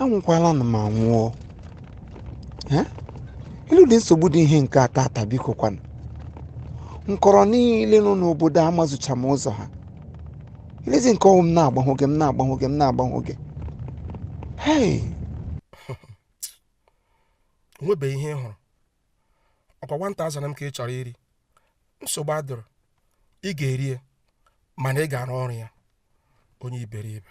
anwụkwala nụ m anwụọ Eh? elee ụdị nsogbu dị ihe nke a taata biko kwanụ nkọrọ niile nọ n'obodo amazucha m ụzọ ha olezi nke ọ wụ m na-agbahụ gị m na-agbahụ gị m na-agbahụ gị hei onwebeghị ihe ị hụrụ ọkwa one thousand m ka ị chọrọ iri nsogbu adịrọ ị ga-eri ya mana ị ga-arụ ọrụ ya onye iberibe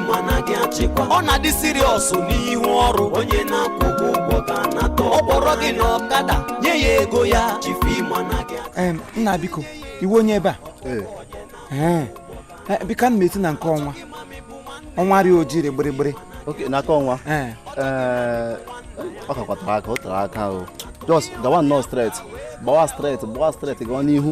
ọ na-adị serious n'ihu ọrụ onye na-akwụ gị ụgwọ ka anata ọ kpọrọ gị na ọkada nye ya ego ya nna biko ị wụ onye ebe a eh, biko ana m eti na nke ọnwa ọnwa rị oji rị gbịrịgbịrị n'aka ọnwa eh. Eh, ọ kakwa tere aka o tere aka o just gawa nnọọ straight gbawa straight gbawa straight gawa n'ihu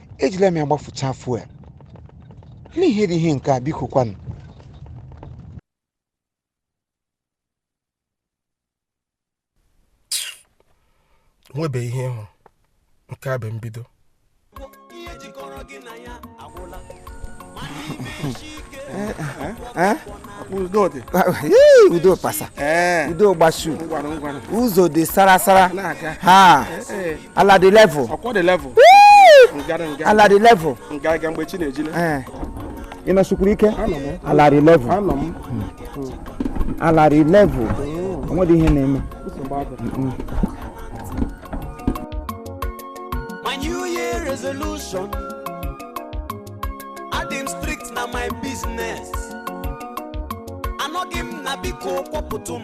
ejila m ya gbafuchaa fuel n'ihe dị ihe nke a biko kwanụ nwebe ihe ị hụ nke a bụ mbido Udodị. Yee, udo pasa Ee. udo gbashu Ngwanụ ngwanụ. ụzọ dị sarasara Na-aga. ha Ee. ala dị level ọkwọ dị level nga dị nga ala dị level nga aga mgbe chi na-ejile ee ị nọsikwuru ike anọ m ala dị level anọ m ala dị level onwedị ihe na-eme nsogbu adịghị My New Year resolution. Adị m strict na my business. Anọghị m na biko kwọpụtụ m.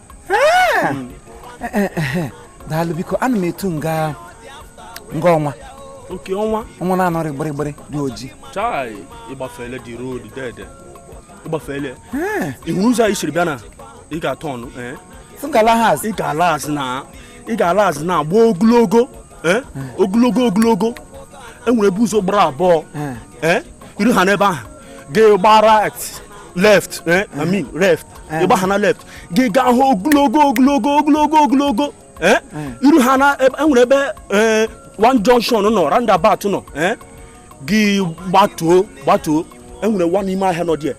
daalụ biko ana m etu nga nga ọnwa nke ọnwa ọnwa na-anọrị gbịrịgbịrị dị oji chai ị gbafeele the road dede ị gbafeele ị hụrụ ụzọ anyị siri bịa na ị ga-atọ ọnụ ị ga-ala azụ ị ga-ala azụ na ị ga-ala azụ na agba ogologo ogologo ogologo enwere ebe ụzọ gbara abụọ i ruha n'ebe ahụ gị gbara left i mean left ị gbaha na left gị gaha ogologo ogologo ogologo ogologo eh? Hmm. i ruha na enwere ebe eh, one junction nọ roundabout nọ eh? gị gbatuo gbatuo enwere one ime ahịa nọ dị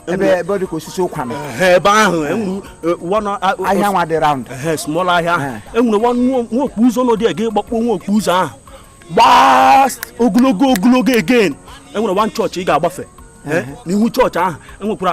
ebe ebe dị ka osisi ụkwa nọ ebe ahụ ahịa nwa dị round small ahịa ahụ enwere one nwa okpu ụzọ nọ dị gị gbakpọ nwa okpu ụzọ ahụ gbaa ogologo ogologo again enwere one chọọchị ị ga-agbafe n'ihu chọọchị ahụ enwekwara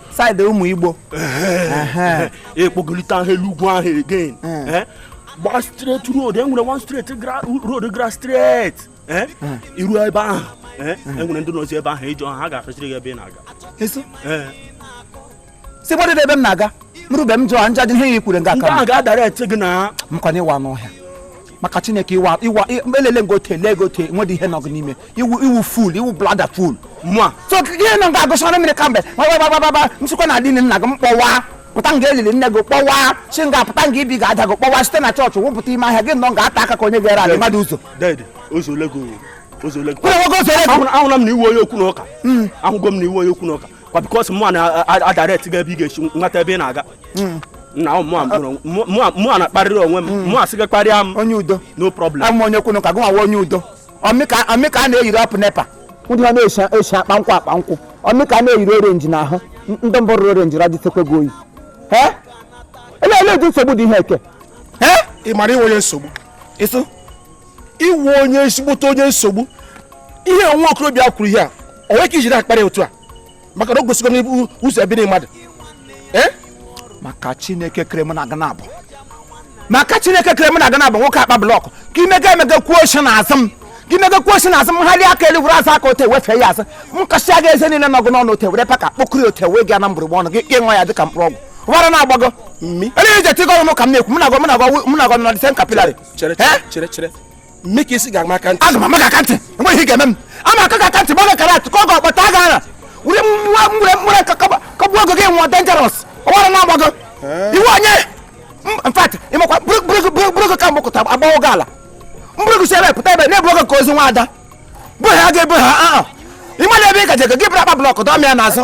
saịdị ụmụ igbo ekpogolite ahụ elu ugwu ahụ again eh? gba straight road enwere one straight road gara straight eh? iru ebe ahụ eh? enwere ndị nọzi ebe ahụ ị jụọ ha ga-afesịrị gị ebe ị na-aga si gbadị ebe m na-aga m rube m jụọ nja dị ihe ya ị kwụrụ nga ka m ga-adirect gị na m kwanye gịwa n'ọhịa maka chineke iwa iwa le legote legote nwedị ihe nọ gị n'ime i wu i wu fool i wu bloody fool mụwa so gị nọ ga-agụsara mmiri kemgbe gbagbagbagbagba nsịkwa na adịghị nna gị m kpọwa pụta nga elili nne gị kpọwa si nga pụta nga ibi ga-ada gị kpọwa site na chọọchị wụpụta ime ahịa gị nọ nga ata aka ka onye ga-ere ala mmadụ ụzọ ahụla m na i wu onye okwu na ụka ahụgo m na i wu onye okwu na ụka kwa because mụ na-adirect gị ebe ị ga-esi nweta ebe ị na-aga hmm. na mụwa na-akparịrị onwe m mụ asị gị kparịa m onye udo no problem awụ m onye okwu na ụka gịnwa onye udo ọmịka a na-eyiri apụ nepa ndị ha na-esi akpa nkwụ akpa nkwụ ọmịka a na-eyiri orenji na ahụ ndị mbụ rụrụ orenji radịtekwe gị oyi ele ele ụdị nsogbu dị ihe eke ị mara i wu onye nsogbu ịsụ i wu onye ezigbote onye nsogbu ihe nwa okorobịa kwuru ihe a o nwere ka i jiri akparị otu a maka na o gosigo n'ibu ụzọ ebiri mmadụ eh? maka chineke kere m na aga na-abụ maka chineke kere m na aga na-abụ nwoke akpa blọkụ ka imega emega kwuo oche na azụ m ka imega kwuo oche na azụ m ha aka elu were azụ aka otu a wefee ya azụ m kụsịa gị eze niile nọ gị n'ọnụ otu a were packer kpokọrọ otu a wee gaa na mgbụrụgba ọnụ gị ṅụọ ya dịka mkpụrụ ọgwụ ọwara na-agbago ele ije tigọ ọnụ ka m na-ekwu m na-agọ m na-agọ m na-agọ nọdịsen kapilari chere chere chere mme ka isi ga-ama aka ntị aga m ama gị aka ntị enweghị ihe ga-eme m ama aka gị aka ntị ma ọ ga-ekara atụ ka ọ ga-akpọta aga ara were nwa nwere nwere kụgbuo gị gị nwụọ dangerous ọwara na-agbago i wu onye in fact ị makwa buru gị ka mgbakọta agbawo gị ala m buru gị si ebe pụta ebe na-ebu gị ka ozu nwa ada bụ ha ga-ebu ha ị ma na ebe ị gaje gị buru akpa blọkụ dọmịa n'azụ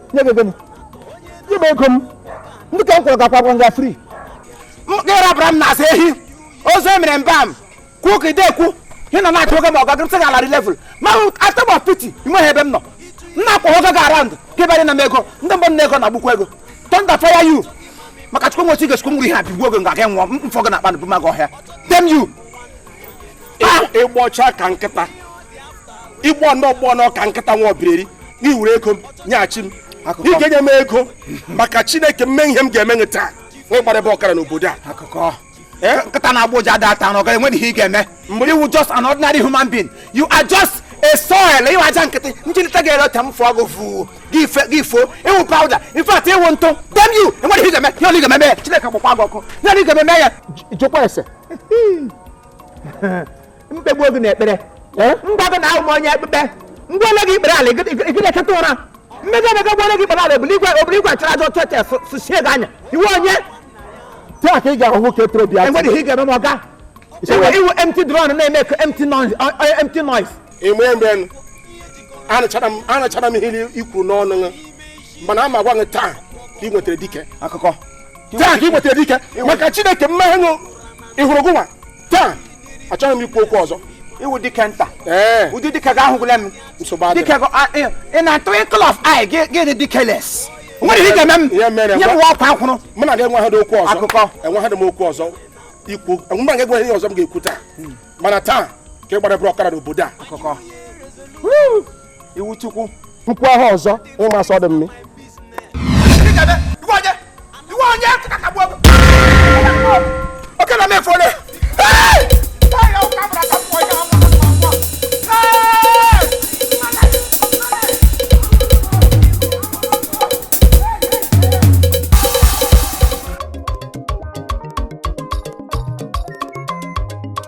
nye gị gịnị nye m ego m ndị ka m kwụrụ gakwa gwa nga free ịrabara m na-asa ehi ozu emere mba m kwuo ka ide ekwu ị nọ na-achọ oge ma ọ gago nsị larị level ma atọgbọ piti nweghị ebe m nọ m na-akwọ gị aga around ka ịbanye na m ego ndị mbụ na ego na agbukwa ego thunder fire you maka chukwu nwochi ga-echukwu m were ihe a bigbuo gị nga gị nwụọ m fọ gị n'akpa na bụmaga ọhịa damn you ị gbọcha ka nkịta ị gbọ nnọọ gbọ nnọọ ka nkịta nwa ọbireri n'iwere ego m nyeghachi m n'ike nye m ego maka chineke m mee ihe m ga-eme gị taa nwa ịgbara ebe ọkara n'obodo a eh? nkịta na-agbọ ụja ada ata n'ọga enweghị ihe ị ga-eme mgbe i wu just an ordinary human being you are just a soil ị wụ aja nkịtị m jilite gị elu otu a m fụọ gị fụ gị ifo ị wụ powder in fact ị wụ ntụ damn you enweghị ihe ị ga-eme ihe ọwụla ị ga-eme ya chineke gbakwa gị ọkụ ihe ọwụla ị ga-eme ya jụọkwa ese m kpegbuo gị n'ekpere eh? m gwa gị na awụ m onye ekpekpe ngwa ole gị ikpere ala ịgị na-echeta ụra mmega emega gwa ole gị ikpere ala obere igwe obere igwe achara aja ọcha tes sụchie gị anya ị wụ onye taa ka ị ga-ahụ nwoke toro bịa enwere ihe ị ga-eme ma ọ ga ị wụ empty drum na-eme ka empty noise empty noise ime mgbe anụchara m ihe i kwuru n'ọnụ mana a m agwa gị taa ka ị nwetara dike akụkọ taa ka ị nwetara dike maka chineke mmeṅụ ịhụrụ gụnwa taa achọghị m ikwu okwu ọzọ ị wụ dike nta ụdị dike gị ahụgụla m dike in a twinkle of eye gị dị dikeless nwere ihe ga-eme m nye m ọkwa akwụrụ mụ na gị enweghị okwu ọzọ akụkọ enweghị m okwu ọzọ ikwu mụ na gị enweghị ihe ọzọ m ga-ekwu taa hmm. mana taa ka ị gbara ebe ọkara n'obodo a iwu chukwu mkpu ahụ ọzọ ịma asọ dị mmi oke na mefu ole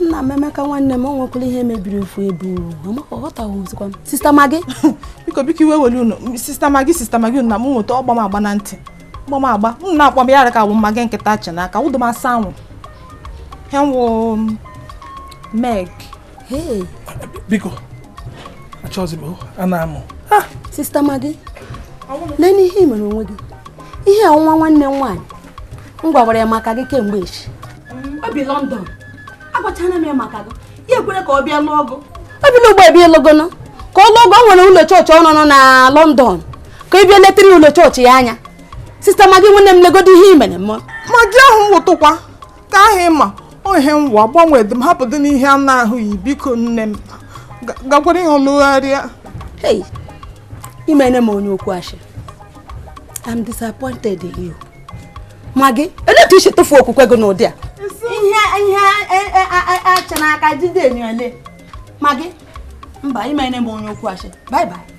nna m emeka nwanne m ọ nwekwara ihe mebiri ofu ebe aghọtaghịzikwa m sista magi biko biko iwe ewele unu sista magi sista magi unu na m nweta ọ gba m agba na ntị ọ gba m agba unu na-akpọ m ya aha ka wụ magi nkịta achị n'aka wụdụ m asa anwụ hewu meg biko achọzi m ịna-anụ sista magi leenụ ihe ị mere onwe gị ihe a nwa nwanne m nwaanyị m gwakwara ya maka gị kemgbe echi o bi London agwachana m ya maka gị ya ekwere ka ọ bịa lụọ gụ obi na ugbo ebe ịlụ gụ nụ ka ọ lụọ gụ o nwere ụlọ chọọchị ọ nọ na London ka ị bịa letara ụlọ chọọchị ya anya sista magi nwanne m legodo ihe i mere m magi ahụ wụtụkwa ka ahụ ị ma ọ ihe nwa gbanwedị m hapụdịnụ ihe a na-ahụ yi biko nne m gakwara ihe ọlụgharịa i meene m onye okwu ashị I'm disappointed in you magi olee otu i si tufuo okwukwe gị n'ụdị a ihe ihe e, e, a chị n'aka ejidị enyo ele magi mba i meene m onye okwu ashị bye bye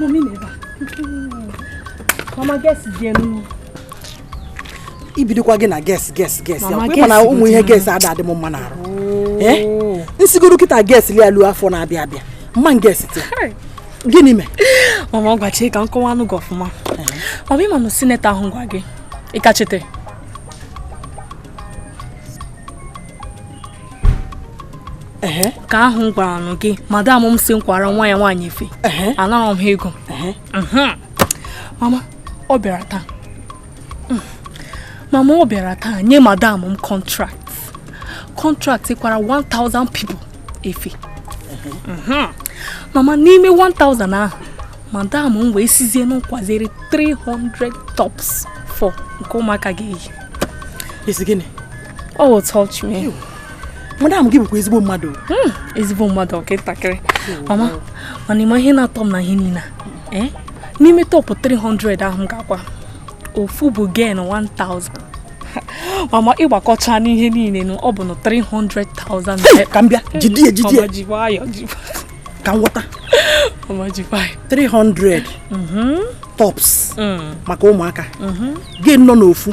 Mommy never. Mama guess again. ibidokwa gị na guess guess guess ya kwe mana ụmụ ihe guess ada adị m mma n'arụ oh. eh? m sigoro kịta guess lia lu afọ na-abịa abịa m ma guess ti gịnị mee mama ngwa chee ka m kọwaanụ gị ọfụma eh. mama ị ma na senator ahụ gwa gị ịkachite ka ahụ m gwara nụ gị madam m sị m kwara nwa ya nwaanyị efe anara m ha ego mhm. mama ọ bịara taa mm. mama ọ bịara taa nye madam m contract contract kwara 1000 people efe mhm. mama n'ime 1000 ahụ madam m wee sịzie mụ kwaziri 300 tops for nke ụmụaka ga-eyi Oh, touch me. You. Madam gị bụkwa ezigbo mmadụ. Hmm, ezigbo mmadụ ọ ka ntakịrị. Mama, mana ị ma ihe na-atọ m na ihe niile. Eh? N'ime top 300 ahụ m ga-akwa. Ofu bụ gain 1000. Mama ị gbakọcha n'ihe niile nụ ọ bụ na 300,000. Ka m bịa, jidi ya jidi ya. Ọma ji nwayọ ji. Ka m ghọta. Ọma ji nwayọ. 300. Mhm. Tops. Mm. Maka ụmụaka. Mhm. Gain nọ n'ofu.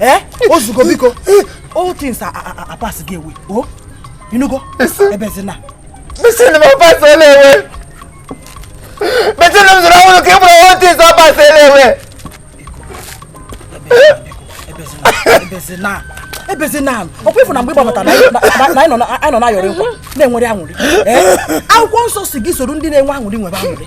eh o zugo biko old things are, are, are passing away o ị nụgo ebezina machine m passed away machine m zụrụ ọhụrụ ka ị bụrụ old things are passed away ebezina ebezina ọkwa ị fụ na mgbe ị gbabata na anyị nọ na-ayọrị nkwa na-enwere aṅụrị akwụkwọ nsọ sị gị soro ndị na-enwe aṅụrị nwebe aṅụrị